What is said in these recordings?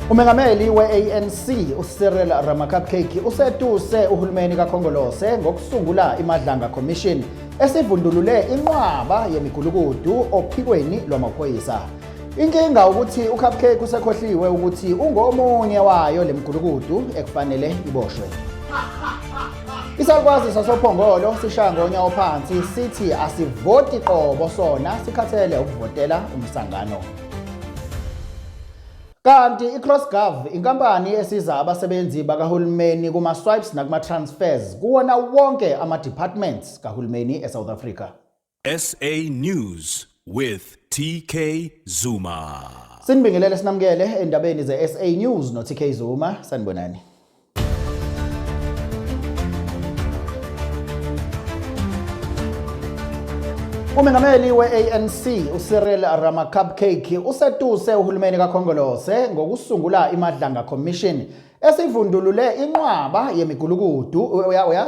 Umengameli we-ANC uCyril Ramaphosa usetuse uhulumeni kaKhongolose ngokusungula iMadlanga Commission esivundulule inqwaba yemigulukudu ophikweni lwamaphoyisa. Inkinga ukuthi uCupcake usekhohliwe ukuthi ungomunye wayo lemgulukudu ekufanele iboshwe. Isalukwazi sasoPhongolo sishaya ngonya ophansi sithi asivoti qobo sona sikhathele ukuvotela umsangano. Kanti iCrossGov inkampani esiza abasebenzi bakahulumeni kuma-swipes nakuma-transfers kuwona wonke ama-departments kahulumeni eSouth Africa. SA News with TK Zuma. Sinibingelele sinamukele endabeni ze-SA News no-TK Zuma. Sanibonani. Umengameli we-ANC uCyril Ramacupcake usetuse uhulumeni kaKhongolose ngokusungula iMadlanga Commission esivundulule inqwaba yemigulukudu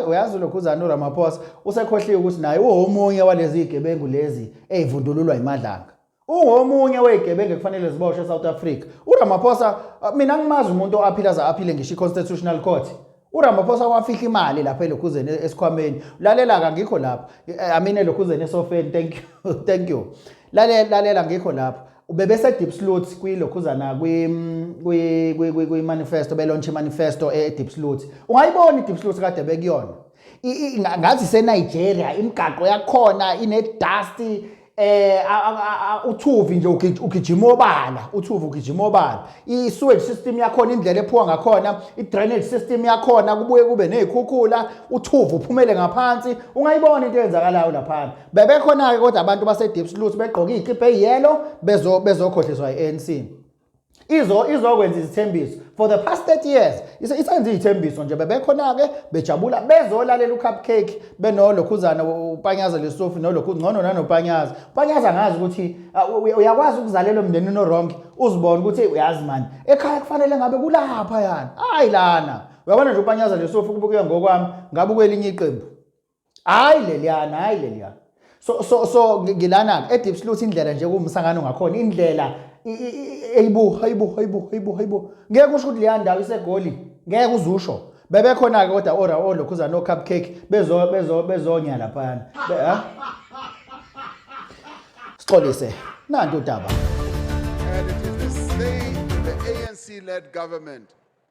uyazi lokhuzana uRamaphosa usekhohliwe ukuthi naye uwomunye walezi zigebengu lezi ezivundululwa iMadlanga ungomunye wezigebengu ekufanele ziboshwe eSouth Africa uRamaphosa uh, mina ngimazi umuntu owaphila aze aphile ngisho iConstitutional Court uRamaphosa wafihla imali lapha elokhuzeni esikhwameni lalela ka ngikho lapha eh, i mean elokhuzeni esofeni thank you thank you lalela lalela ngikho lapha ubebese deep slot kwilokhuzana kwi kwi kwi manifesto belonche manifesto e deep slot ungayibona i deep slot kade bekuyona ngathi seNigeria imigaqo yakhona ine dust eh uthuvi nje ugijima obala uthuvi ugijima obala i sewage system yakhona indlela ephuwa ngakhona i drainage system yakhona kubuye kube nezikhukhula uthuvi uphumele ngaphansi ungayibona into eyenzakalayo lapha bebekhona ke kodwa abantu base deep sluice begqoka izikipa eyelo bezo bezokhohliswa iANC izo izokwenza izithembiso for the past 30 years isenze izithembiso nje bebekhona ke bejabula bezolalela ucupcake benolokhuzana upanyaza lesofi nolokhu ngcono nanopanyaza upanyaza ngazi ukuthi uyakwazi ukuzalela umndeni no wrong uzibona ukuthi uyazi mani ekhaya kufanele ngabe kulapha yana hayi lana uyabona nje upanyaza lesofi kubuke ngokwami ngabe kwelinye iqembu hayi leliyana hayi leliyana so so so ngilana edeep sleuth indlela nje kuwumsangano ngakhona indlela eyibo hayibo hayibo hayibo hayibo ngeke usho ukuthi leya ndawo isegoli ngeke uzusho bebekhona-ke kodwa ora olokhuza no-cupcake bezo bezo bezonya laphayana sixolise nanto udaba and it is the state the ANC led government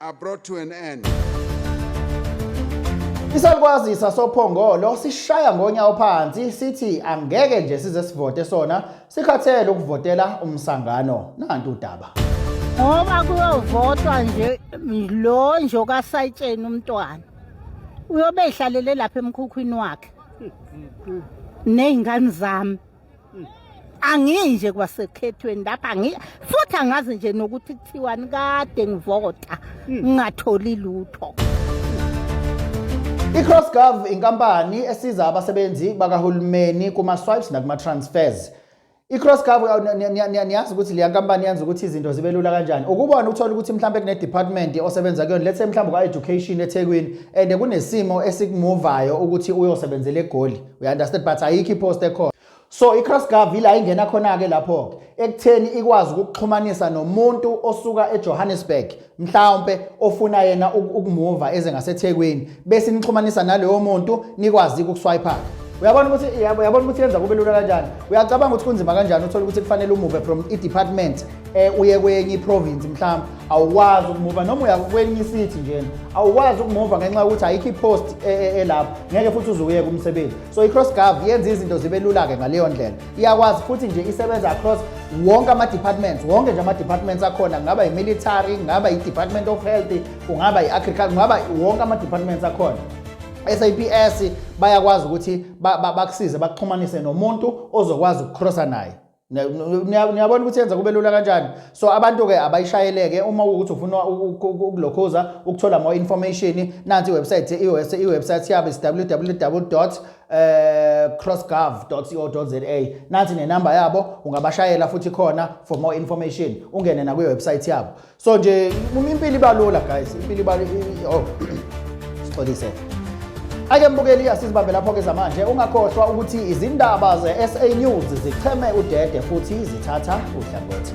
are brought to an end. Isalukwazi sasoPhongolo sishaya ngonyawo phansi sithi angeke nje size sivote sona sikhathele ukuvotela umsangano nantu udaba. Ngoba kuyovotwa nje lo nje okasayitsheni umntwana. Uyobe ehlalele lapha emkhukhwini wakhe. Nezingane zami. Hmm. angiyi nje kwasekhethweni lapha angiyi futhi angazi nje nokuthi kuthiwani kade ngivota hmm. ngingatholi lutho i-crossgov inkampani esiza abasebenzi bakahulumeni kuma-swipes nakuma-transfers i-crossgov niyazi ukuthi leya nkampani yenza ukuthi izinto zibe lula kanjani ukubona uthole ukuthi mhlawumbe kune-department osebenza kuyona lethe mhlawumbe kwa-education ethekwini and kunesimo esikumuvayo ukuthi uyosebenzela egoli you understand but ayikho ipost ekhona so i-cross gov ila ingena khona-ke lapho-ke ekutheni ikwazi ukuxhumanisa nomuntu osuka ejohannesburg mhlawumpe ofuna yena ukumuva eze ngasethekwini bese nixhumanisa naloyo muntu nikwazi ukuswayipha uyabona ukuthi uyabona ukuthi yenza kube lula kanjani uyacabanga ukuthi kunzima kanjani uthole ukuthi kufanele umuve from i-department um uye kwenye i-province mhlawumbe awukwazi ukumuva noma uya kwenye isithi njena awukwazi ukumuva ngenxa yokuthi ayikho i-post e, e, elapho ngeke futhi uze uyeke umsebenzi so i-cross gov yenza izinto zibe lula-ke ngaleyo ndlela iyakwazi futhi nje isebenza across wonke ama-departments wonke nje ama-departments akhona kungaba yi-military kungaba yi-department of health kungaba yi-agriculture kungaba wonke ama-departments akhona SAPS bayakwazi ukuthi bakusize bakuxhumanise nomuntu ozokwazi ukukrosa naye niyabona ukuthi yenza kube lula kanjani so abantu-ke abayishayeleke uma ukuthi ufuna ukulokhuza ukuthola more information nansi iwebsite iwebsite yabo is www eh, crossgov co za nansi nenamba yabo ungabashayela futhi khona for more information ungene nakwiwebsite yabo so nje uma impilo ibalula guys impilo ibalula oh sixolise ake mbukeli iyasizibambe lapho-ke zamanje ungakhohlwa ukuthi izindaba ze-sa news zicheme udede futhi zithatha uhlangothi